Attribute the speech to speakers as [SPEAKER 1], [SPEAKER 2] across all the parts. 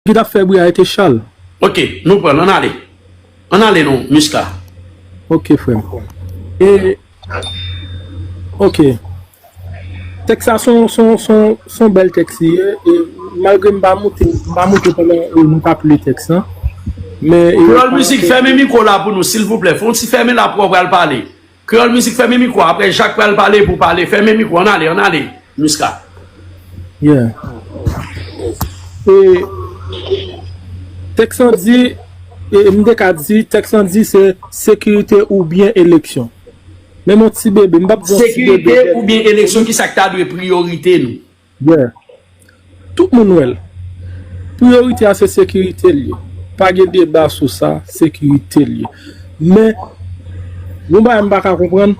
[SPEAKER 1] Ki tap fè bri a ete chal. Ok nou pranl
[SPEAKER 2] ann ale. Ann ale non Musca. Ok
[SPEAKER 1] frem e ok tèks sa son bèl tèks li ye e malgre m pa moute m pa moute pandan nou tap li tèks lan men. Kreyòl mizik fèmen
[SPEAKER 2] mikwo la pou nou silvouplè fon ti fèmen la aprè w pral pale Kreyol mizik fèmen mikwo a aprè jak pral pale pou pale fèmen mikwo an ale an ale miska.
[SPEAKER 1] Yeah e tèks lan di e m te ka di tèks lan di se sekirite oubyen eleksyon menm yon ti bebe m pap di yon ti bebe sekirite
[SPEAKER 2] oubyen eleksyon kisak ta dwe priyorite nou. Where.
[SPEAKER 1] Tout moun wèl. Priorite a se sekirite l ye. Pa gen deba sou sa, sekirite l ye. Men, yon bagay m pa ka konprann,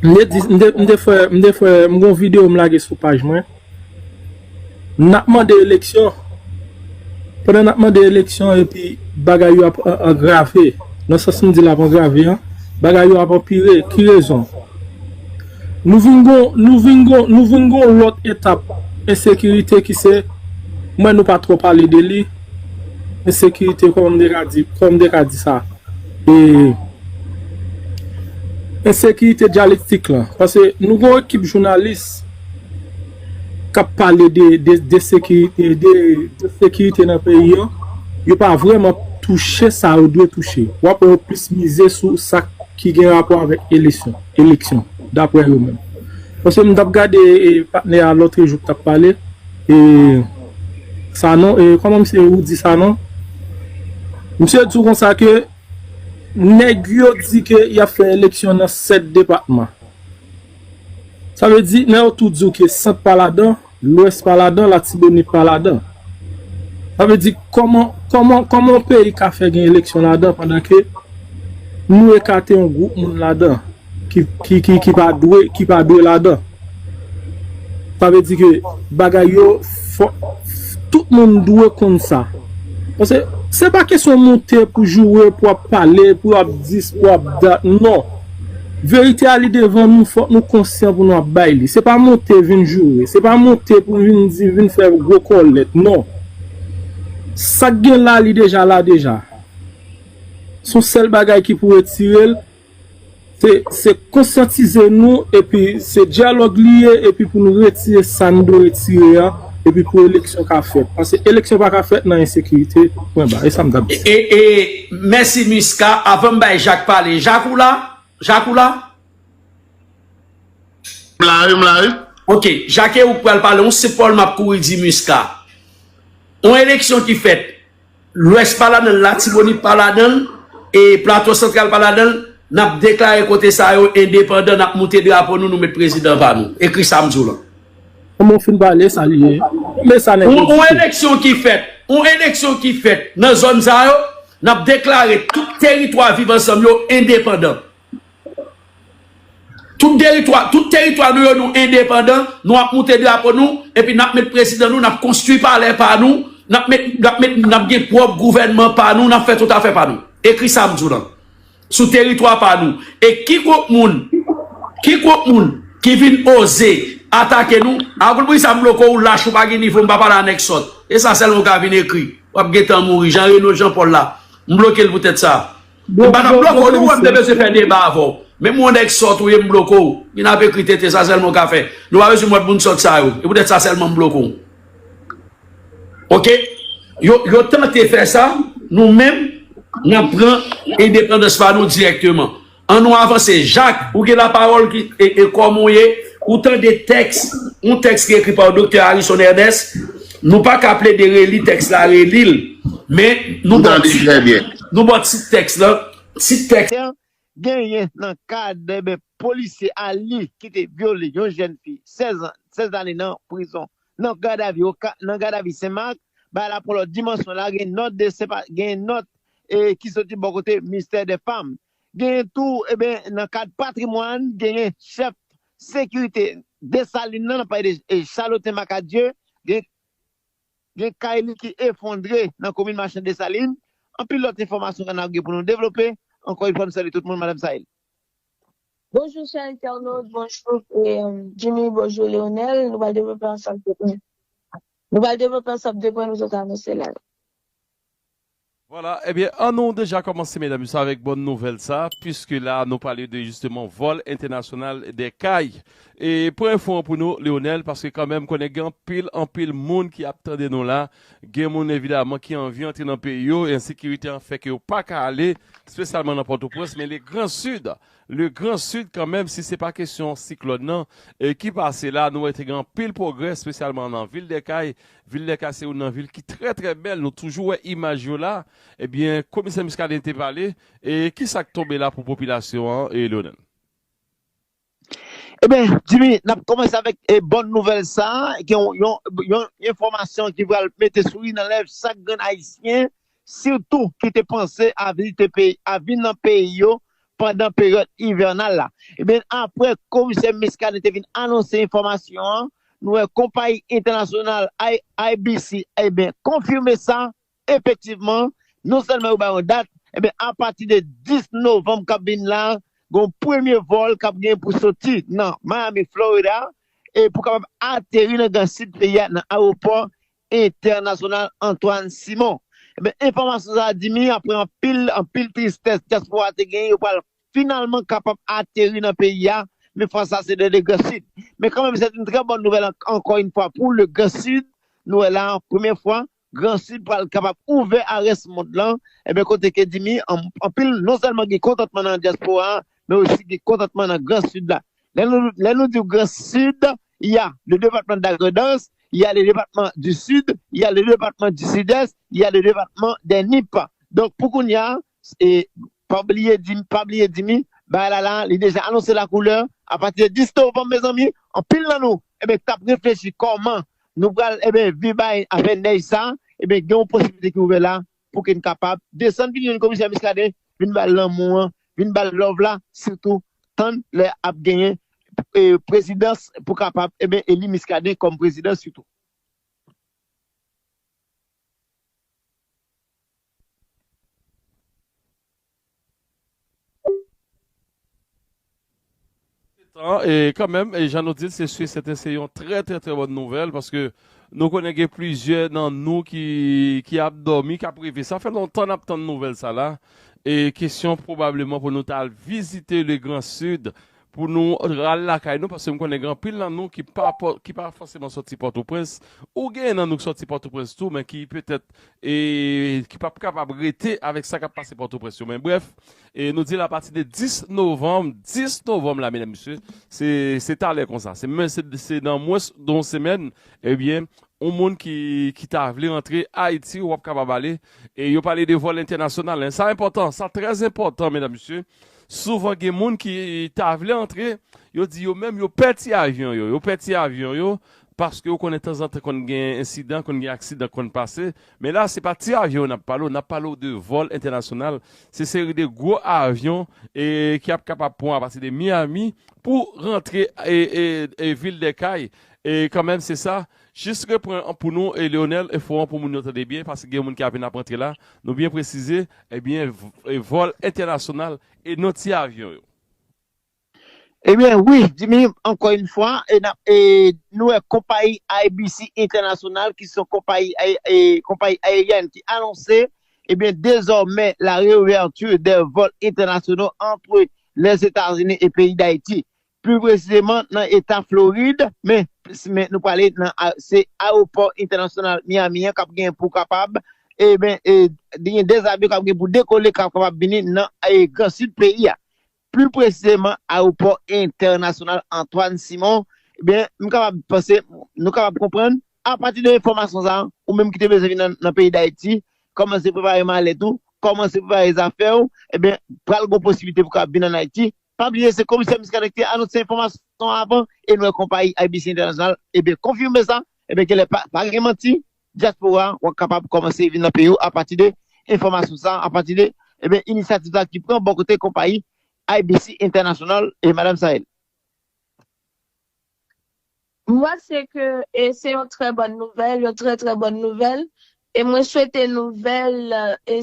[SPEAKER 1] m te di, m te fè, m te fè, m gen yon video m lage sou paj mwen. N ap mande eleksyon, pandan n ap mande eleksyon epi bagay yo ap angrave, nan sans m di l ap angrave an, bagay yo ap anpire, ki rezon? Nou vin gen yon, nou vin gen yon, nou vin gen yon lòt etap ensekirite ki se, m wè nou pa twò pale de li, ensekirite kòman m te ka di, kòman m te ka di sa? E, ensekirite dyalektik lan, pase nou gen yon ekip jounalis kap pale de de sekirite de de sekirite nan peyi an yo pa vreman touche sa yo dwe touche wap wè yo plis mize sou sa ki gen rapò avèk elesyon eleksyon daprè yo menm paske m tap gade e patnè a lotre jou kap pale e sanon e kòman misye roudi sanon misye di w konsa ke nèg yo di ke yap fè eleksyon nan 7 depatman. Sa vle di, lè yo tou di w ke Sant pa ladan, Lwès pa ladan, Latibonit pa ladan. Sa vle di, kòman, kòman, kòman yon peyi ka fè gen eleksyon ladan pandan ke nou ekate yon gwoup moun ladan ki, ki, ki, ki pa dwe, ki pa dwe ladan? Sa vle di ke bagay yo fò, tout moun dwe konn sa. Pase, se pa kesyon moute pou joure, pou ap pale, pou ap dis, pou ap dat, non! Verite a li devan nou fòk nou konsyan pou nou ap bay li se pa monte vin joure se pa monte pou vin di vin fè gwo kòlèt non sak gen la li deja la deja son sèl bagay ki pou retirel se se konsyantize nou epi se dyalòg li ye epi pou nou retire sa nou dwe retire a. Epi pou eleksyon ka fèt. Paske eleksyon pa ka fèt nan ensekirite, pwen ba. E sa m t ap di. E
[SPEAKER 2] mèsi Musca. Avan m bay Jak pale. Jak ou la? Jak ou la? M la wi, m la wi. Ok. Jak e ou k pral pale. Yon senp pawòl m ap kouri di Musca. Yon eleksyon ki fèt. Lwès pa ladan l, Latibonit pa ladan l, e Plato Santral pa ladan l, n ap deklare kote sa yo endepandan, n ap moute drapo nou, nou met prezidan pa nou. Ekri sa m di w lan. Kòman w fin
[SPEAKER 1] pale sa li ye? Kòman sa nèg yo di? Yon eleksyon ki
[SPEAKER 2] fèt, yon eleksyon ki fèt nan zòn sa yo, n ap deklare tout teritwa Viv Ansanm yo endepandan. Tout deritwa, tout teritwa nou yo nou endepandan, nou ap moute drapo nou, epi nap met prezidan nou, nap konstwi palè pa nou, nap met, nap met, nap gen pwòp gouvènman pa nou, nap fè tout afè pa nou. Ekri sa m di w lan. Sou teritwa pa nou. E ki gwoup moun, ki gwoup moun ki vin oze atake nou, a gwoup moun sa m loko ou lach ou pa gen nivo m pa pale a nèg sòt. E sa sèlman ou ka vin ekri. Wap gentan mouri. Jan Reno Jean Paul la. M bloke l pou tèt sa. M pa tap bloke w non wè m te bezwen fè deba avè w. Menm yon nèg sòt ou ye m bloke w. Vin ap ekri tenten sa sèlman w ka fè. Nou pa bezwen mòd moun sòt sa yo. E poutèt sa sèlman m bloke w. Ok? Yo tante fè sa, nou menm n ap pran endepandans pa nou dirèkteman. An nou avanse. Jak, ou gen lapawòl kòman ou ye? Ou tande tèks, yon tèks ki ekri pa w Doktè Arison Ernest. Nou pa ka plede reli tèks la, reli l. Men nou tande. M tande trè byen. Nou ba w tit tèks lan, tit tèks. Genyen
[SPEAKER 3] nan ka debe polisye Aly ki te vyole yon jèn fi 16 an, 16 lane nan prizon nan gadavi oka, nan gadavi Sen Mak, bay la pwolo dimansyon la gen nòt de sepa, genyen nòt e ki soti bò kote minstè dè fam. Genyen tou eben nan kad patrimwàn genyen chèf sekirite Desalin nan, nan pale de Chaloten Makadye, gen. Gen kay li ki efondre nan komin Machan Desalin, anpil lòt enfòmasyon kanal gen pou nou devlope, ankò yon fwa m salye tout moun madam Sail. Bonjou
[SPEAKER 4] chè entènot, bonjou Jimmy, bonjou Leonel, nou pral devlope ansanm 2 pwen nou pral devlope ansanm 2 pwen nou sot anonse la yo. Vwala
[SPEAKER 5] ebyen an nou deja kòmanse medam mesye avèk bòn nouvèl sa pwiske la nou pale de jisteman vòl entènasyonal de kay e pou enfo an pou nou Leonel paske kanmenm m konnen gen anpil anpil moun ki ap tande nou la gen moun evidaman ki anvi antre nan peyi yo ensekirite an fè ke yo pa ka ale spesyalman nan pòtoprens men le gran sid le gran sid kanmenm si se pa kesyon siklòn nan ki pase la nou wè te gen anpil pwogrè spesyalman nan vil de kay Vil Lèka se youn nan vil ki trè trè bèl nou toujou wè imaj yo la ebyen komisè Muscadin te pale e kisak tonbe la pou popilasyon an Leonel.
[SPEAKER 3] Ebyen Djimy nap kòmanse avèk bòn nouvèl sa gen yon enfòmasyon ki pral mete souri nan lèv chak grenn ayisyen sitou ki te panse a vin nan peyi yo pandan peryòd ivènal la. Ebyen aprè komisè Muscadin te vin anonse enfòmasyon an, nou wè konpayi entènasyonal IBC ebyen konfime sa, efektivman non sèlman yo bay yon dat, ebyen apati de 10 novanm k ap vin la, gen yon premye vòl k ap gen pou soti nan Miami Florida e pou kapab ateri nan gran sid peyi a nan ayewopò Entènasyonal Antoine Simon. Enben enfòmasyon sa a di mi aprè anpil anpil tristès dyaspora te genyen yo pral finalman kapab ateri nan peyi a men fwa sa se de le Grand Sud. Men kanmenm sèt yn trè bòn nouvèl ankò yn fwa pou le Grand Sud nou wè la premyè fwa Grand Sud pral kapab ouvè a rès mond lan enben kote ke di mi anpil non sèlman gen kontantman nan dyaspora a men osi gen kontantman nan Grand Sud la. Lè nou lè nou diw gran sid ya le depatman da grandans ya le depatman di sid ya le depatman di sidès ya le depatman dè nip donk pou kounya e pa bliye di pa bliye di mi bagay la la li deja anonse la koulè a pati de 10 novanm mezanmi anpil nan nou eben tap reflechi kòman nou pral eben vi bay afè nèj sa eben gen yon posiblite ki ouvè la pou ke n kapab desann vin jwenn komisè Muscadin vin ba l lanmou an, vin ba l love la sitou tann lè ap genyen prezidans pou kapab eli Muscadin kòm prezidan sitou.
[SPEAKER 5] Setan, e kanmenm, e jan nou di l, se su e sèten se yon trè trè trè bòn nouvèl, paske nou konnen gen plizyè nan nou ki, ki ap dòmi, k ap reve. Sa fè lontan n ap tann nouvèl sa la, e kesyon pwobableman pou nou ta al vizite Legran Sid, Pou nou rale lakay nou paske m konnen gen anpil nan nou ki pa ki pa fòseman sòti Pòtoprens ou genyen nan nou ki sòti Pòtoprens tou men ki petèt e ki p ap kapab rete avèk sa k ap pase Pòtoprens yo men brèf e nou di l apati de 10 novanm 10 novanm la medam mesye se se talè konsa se men se nan mwens de yon semèn ebyen yon moun ki ki ta vle rantre Ayiti ou ap kapab ale e yo pale de vòl entènasyonal sa enpòtan sa trèzenpòtan medam mesye Souvan gen moun ki ta vle antre, yo di yo menm yo pè ti avyon yo, yo pè ti avyon yo, paske ou konnen tanzantan konn gen ensidan, konn gen aksidan k konn pase, men la se pa ti avyon yo n ap pale w, n ap pale w de vòl entènasyonal, se seri de gwo avyon ki ap kapab pran apati de Miami pou rantre vil Dèkay, kanmenm se sa Jis repran an pou nou Leonel enfo an pou moun yo tande byen paske gen moun ki ap vin ap antre la, nou byen presize ebyen vòl entènasyonal e non ti avyon yo.
[SPEAKER 3] Ebyen wi Jimmy ankò yn fwa e nap e nou wè konpayi IBC entènasyonal ki son konpayi e konpayi ayeryèn ki anonse ebyen dezòmè la reouverture des vols internationaux entre les Etats-Unis et pays d'Haïti pli presizeman nan eta Florid, men men nou prale nan a se aewopò entènasyonal Miami an kap gen pou kapab e ben e gen 2 avyon kap gen pou dekole kap kapab vini nan e gran sid peyi a, pli presizeman aewopò entènasyonal Antoine Simon e ben m kapab panse nou kapab konprann apati de enfòmasyon sa a ou menm ki te bezwen vin nan peyi Dayiti kòmanse prepare malèt ou, kòmanse prepare zafè ou e ben pral gon posiblite pou kapab vin an Ayiti. Pa bliye se Komisè Muscadin ki te anonse enfòmasyon an avan e nou wè konpayi IBC International ebyen konfime sa, ebyen genlè pa gen manti, dyaspora wap kapab kòmanse vin nan peyi ou apati de enfòmasyon sa, apati de ebyen inisyativ sa ki pran bò kote konpayi IBC International e Madam Sael.
[SPEAKER 4] M panse ke se yon trè bòn nouvèl, yon trè trè bòn nouvèl e mwen swete nouvèl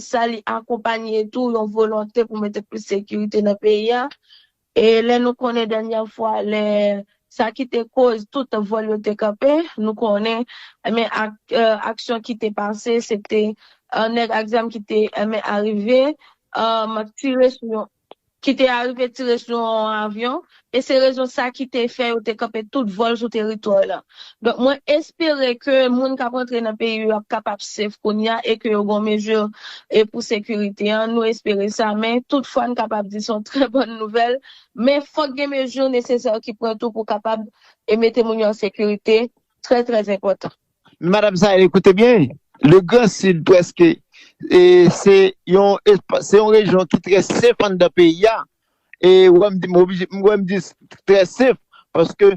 [SPEAKER 4] sa li akonpanye tou yon volonte pou mete plis sekirite nan peyi a e lè nou konnen dènyè fwa lè sa ki te koz tout vòl yo te kanpe nou konnen enben ak aksyon ki te pase se te nèg ak zam ki te enben arive tire sou yon ki te arive tire sou yon avyon e se rezon sa ki te fè yo te kanpe tout vòl sou teritwa lan. Donk mwen espere ke moun kap rantre nan peyi yo ap kapab safe kounya e ke yo gon mezi e pou sekirite an, nou espere sa men tout fwa n kapab di son trè bòn nouvèl men fòk gen mezi nesesè ki pran tou pou kapab e mete moun yo an sekirite trè trè enpòtan. Madam Sahel
[SPEAKER 3] ekoute byen, le grand sud preske se yon rejyon ki trè sef anndan peyi a, e wè m di m oblije, m wè m di trè sef, paske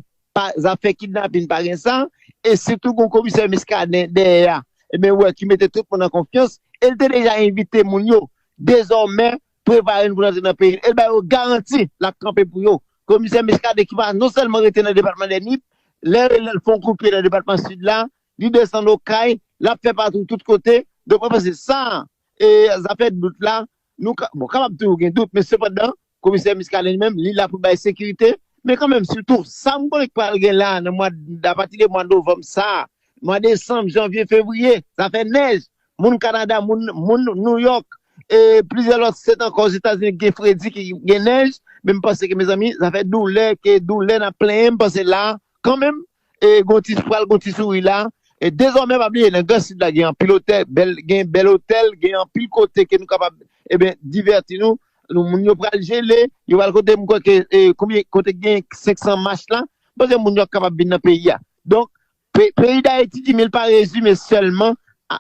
[SPEAKER 3] zafè kidnapin pa gen sa, e sitou gon komisè Miskaden dèyè a, e men wè ki mete tout moun an konfyans, e l te deja envite moun yo, dezòmè prepare n pou n antre nan peyi l e l ba yo garanti l ap kanpe pou yo. Komisè Muscadin ki pa non sèlman rete nan depatman dè Nip, lè l fè yon kout pye nan depatman Sid la, li desann Okay, l ap fè patou tout kote. Donk mwen panse sa e zafè dout la, nou ka, bon kapab toujou gen dout men sepandan komisè Muscadin li menm li la pou l bay sekirite. Men kan menm sitou sa m konnen k pral gen la nan mwa, apati de mwa novanm sa, mwa desanm, janvye, fevriye, zafè nèj, Moun Kanada, moun Nouyòk e plizyè lòt state ankò Ozetazini ki gen fredi, ki gen nèj, men m panse ke mezanmi, zafè doulè ke doulè n ap plenyen, m panse la, kanmenm, e gon ti pral gon ti souri la. E dezòmè pa bliye nan gran sid la gen anpil otè, bèl gen bèl otèl, gen anpil kote ke nou kapab eben divèti nou, nou moun yo pral jele, yo pral kote m kwè ke e konbyen kote gen 500 mach la, m panse moun yo ap kapab vin nan peyi a. Donk, Peyi Dayiti di men li pa rezime sèlman a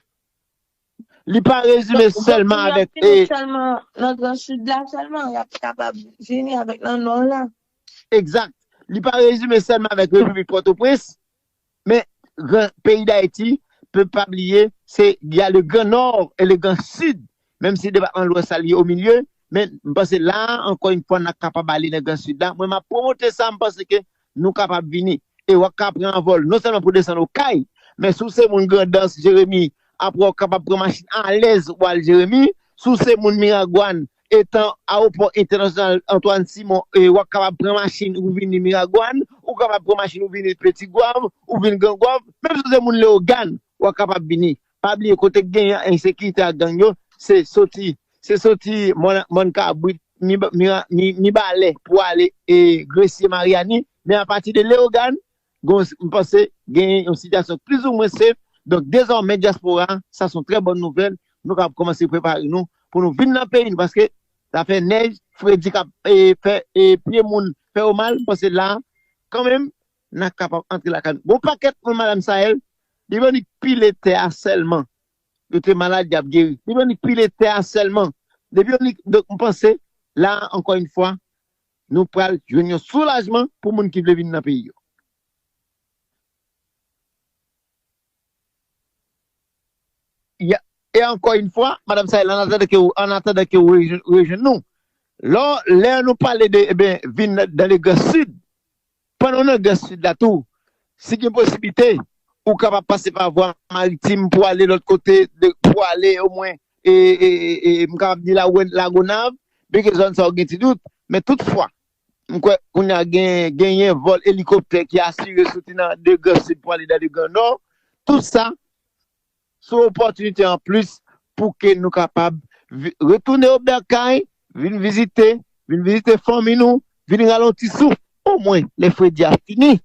[SPEAKER 3] li pa rezime sèlman avèk. Donk pou yo fini sèlman nan
[SPEAKER 4] gran sid la sèlman, y ap kapab vini avèk nan nò la. Egzat.
[SPEAKER 3] Li pa rezime sèlman avèk Repiblik Pòtoprens, men gran peyi Dayiti, pou n pa bliye se y a le gran nò e le gran sid Menm si depatman lwès la li omilye, men m panse la a ankò yn fwa n ap kapab ale nan gran sid la, mwen m ap pwomote sa m panse ke nou kapab vini e w ap ka pran anvòl non sèlman pou desann Okay, men si w se moun Grandans, Jeremi, aprè w kapab pran machin alèz pou al Jeremi, si w se moun Miragwàn, etan awopò entènasyonal Antwàn Simon e w ap kapab pran machin ou vini Miragwàn, ou kapab pran machin ou vini Petit Goâve, ou vin Grand Goâve, menm si w se moun Lewogàn, w ap kapab vini Pa bliye kote k gen ensekirite ak gang yo se soti se soti mòn kabrit, mibalè pou ale gresye maryani men apati de leogàn gon m panse gen yon sitiyasyon k plizoumwen safe donk dezòmè dyaspora sa son trè bòn nouvèl nou kab kòmanse prepare nou pou nou vin nan peyi nou paske zafè nèj fredi kap fè pye moun fè yo mal m panse la kanmenm Nan kapab antre lakay nou. Bon pakèt moun madam Sael li bannik pile tè a sèlman yo te malad yap geri li bannik pile tè a sèlman depi yo nik donk m panse la a ankò yn fwa nou pral jwenn yon soulajman pou moun ki vle vin nan peyi yo. E ankò yn fwa madam Sael an atandan ke ou an atandan ke ou rejwenn nou lò lè nou pale de ebyen vin nan dan legrès sid Pandan w nan Grès Sid la tou, si gen posiblite, ou kapab pase pa vwa maritim pou ale lòt kote, pou ale omwen, m kapab di Lagonav, byenke zòn sa yo gen ti dout, men tout fwa, m kwè kounye a genyen vòl elikoptè ki asire soti nan de Grès Sid pou ale nan de Gran Nò, tout sa, Se yon opòtinite an plis pou ke nou kapab retounen o Bèkay, vin vizite, vin vizite fanmi nou, vin ralonti souf, o mwen lè fredi a fini,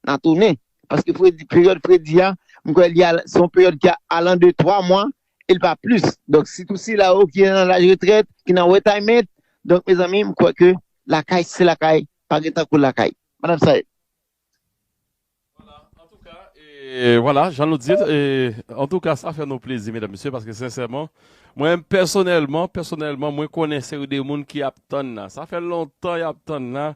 [SPEAKER 3] nan tounen. Paske fredi, peryòd fredi a, m kwè li al, se yon peryòd ki al an de twa mwa, e li pa plis. Donk si tou sila yo ki nan laj retrèt, ki nan wetayment, donk mezanmi m kwè ke lakay se lakay, pa gen tankou lakay. Madam Saeb.
[SPEAKER 5] Vwala jan nou di l antouka sa fè nou plezi medam mesye paske sensèman mwen menm pèsonèlman pèsonèlman mwen konnen seri de moun ki ap tann nan sa fè lontan y ap tann nan